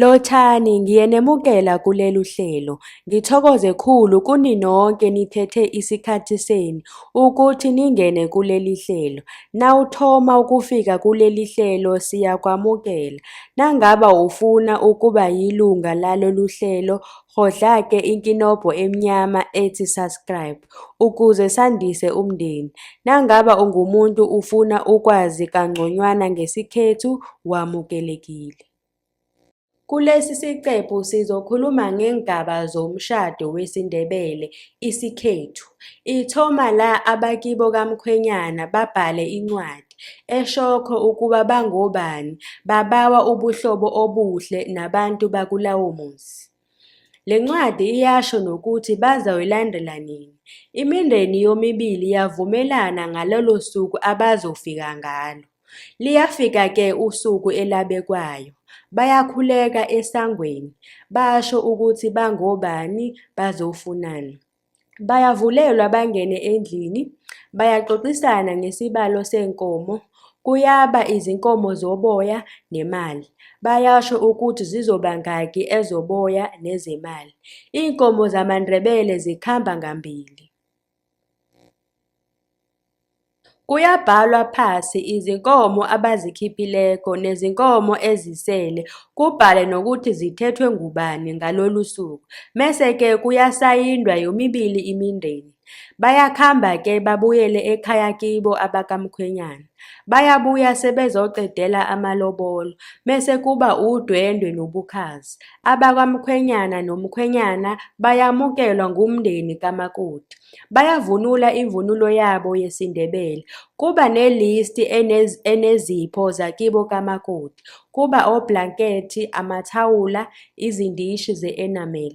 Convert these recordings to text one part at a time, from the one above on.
Lothani ngiyenemukela kulelu hlelo. Ngithokoze khulu kuninonke nithethe isikhathi senu ukuthi ningene kuleli hlelo. Nawuthoma ukufika kuleli hlelo siyakwamukela. Nangaba ufuna ukuba yilunga lalolu hlelo, kgodla-ke inkinobho emnyama ethi subscribe ukuze sandise umndeni. Nangaba ungumuntu ufuna ukwazi kangconywana ngesikhethu, wamukelekile. Kulesi siqephu sizokhuluma ngeengaba zomshado wesiNdebele, isikhethu. Ithoma la abakibo kamkhwenyana babhale incwadi eshokho ukuba bangobani, babawa ubuhlobo obuhle nabantu bakulawo muzi. Le ncwadi iyasho nokuthi bazoyilandela nini. Imindeni yomibili yavumelana ngalolo suku abazofika ngalo. Liyafika-ke usuku elabekwayo. Bayakhuleka esangweni, basho ukuthi bangobani, bazofunani. Bayavulelwa bangene endlini, bayaxoxisana ngesibalo seenkomo, kuyaba izinkomo zoboya nemali. Bayasho ukuthi zizoba ngaki ezoboya nezemali. Iinkomo zamaNdebele zikhamba ngambili. Kuyabhalwa phasi izinkomo abazikhiphileyo nezinkomo ezisele kubhalwe nokuthi zithethwe ngubani ngalolo suku mese ke kuyasayindwa yomibili imindeni bayakhamba ke babuyele ekhaya kibo abakamkhwenyana bayabuya sebezoqedela amalobolo mese kuba udwendwe nobukhazi abakamkhwenyana nomkhwenyana bayamukelwa ngumndeni kamakoti Bayavunula imvunulo yabo yesiNdebele. Kuba nelisti enez, enezipho zakibo kamakoti. Kuba oblankethi, amathawula, izindishi ze-enamel.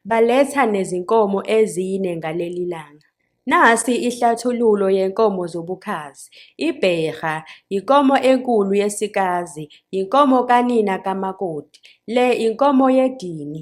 Baletha nezinkomo ezine ngaleli langa. Nasi ihlathululo yenkomo zobukhazi. Ibherha, yinkomo enkulu yesikazi, yinkomo kanina kamakoti. Le inkomo yedini.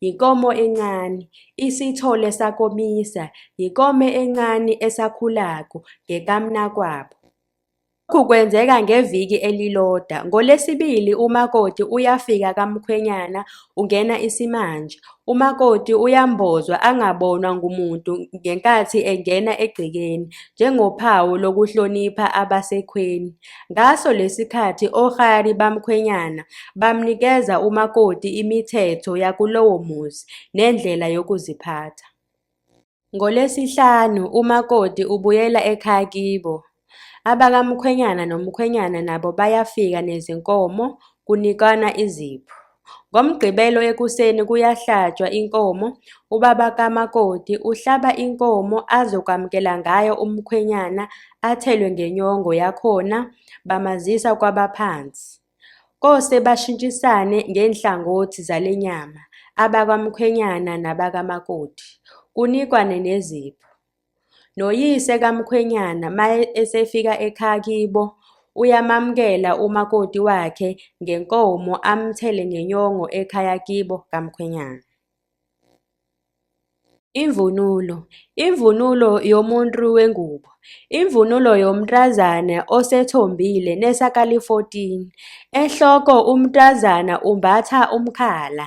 Yinkomo encane, isithole sakomisa, yikome encane esakhulako ngekamnakwabo. Lokhu kwenzeka ngeviki eliloda. NgoLesibili umakoti uyafika kamkhwenyana ungena isimanje. Umakoti uyambozwa angabonwa ngumuntu ngenkathi engena egcekeni njengophawu lokuhlonipha abasekhweni. Ngaso lesikhathi ohari bamkhwenyana bamnikeza umakoti imithetho yakulowo muzi nendlela yokuziphatha. NgoLwesihlanu umakoti ubuyela ekhaya kibo. Abakamkhwenyana nomkhwenyana nabo bayafika nezinkomo kunikwana izipho. NgoMgqibelo ekuseni kuyahlatshwa inkomo, ubaba kamakoti uhlaba inkomo azokwamukela ngayo umkhwenyana athelwe ngenyongo yakhona bamazisa kwabaphansi. Kose bashintshisane ngeenhlangothi zale nyama, abakwamkhwenyana nabakamakoti, kunikwane nezipho. Noyise kamkhwenyana ma esefika ekhaya kibo uyamamukela umakoti wakhe ngenkomo amthele ngenyongo ekhaya kibo kamkhwenyana. Imvunulo Imvunulo yomuntu wengubo Imvunulo yomntazana osethombile nesakali-14 Ehloko umntazana umbatha umkhala.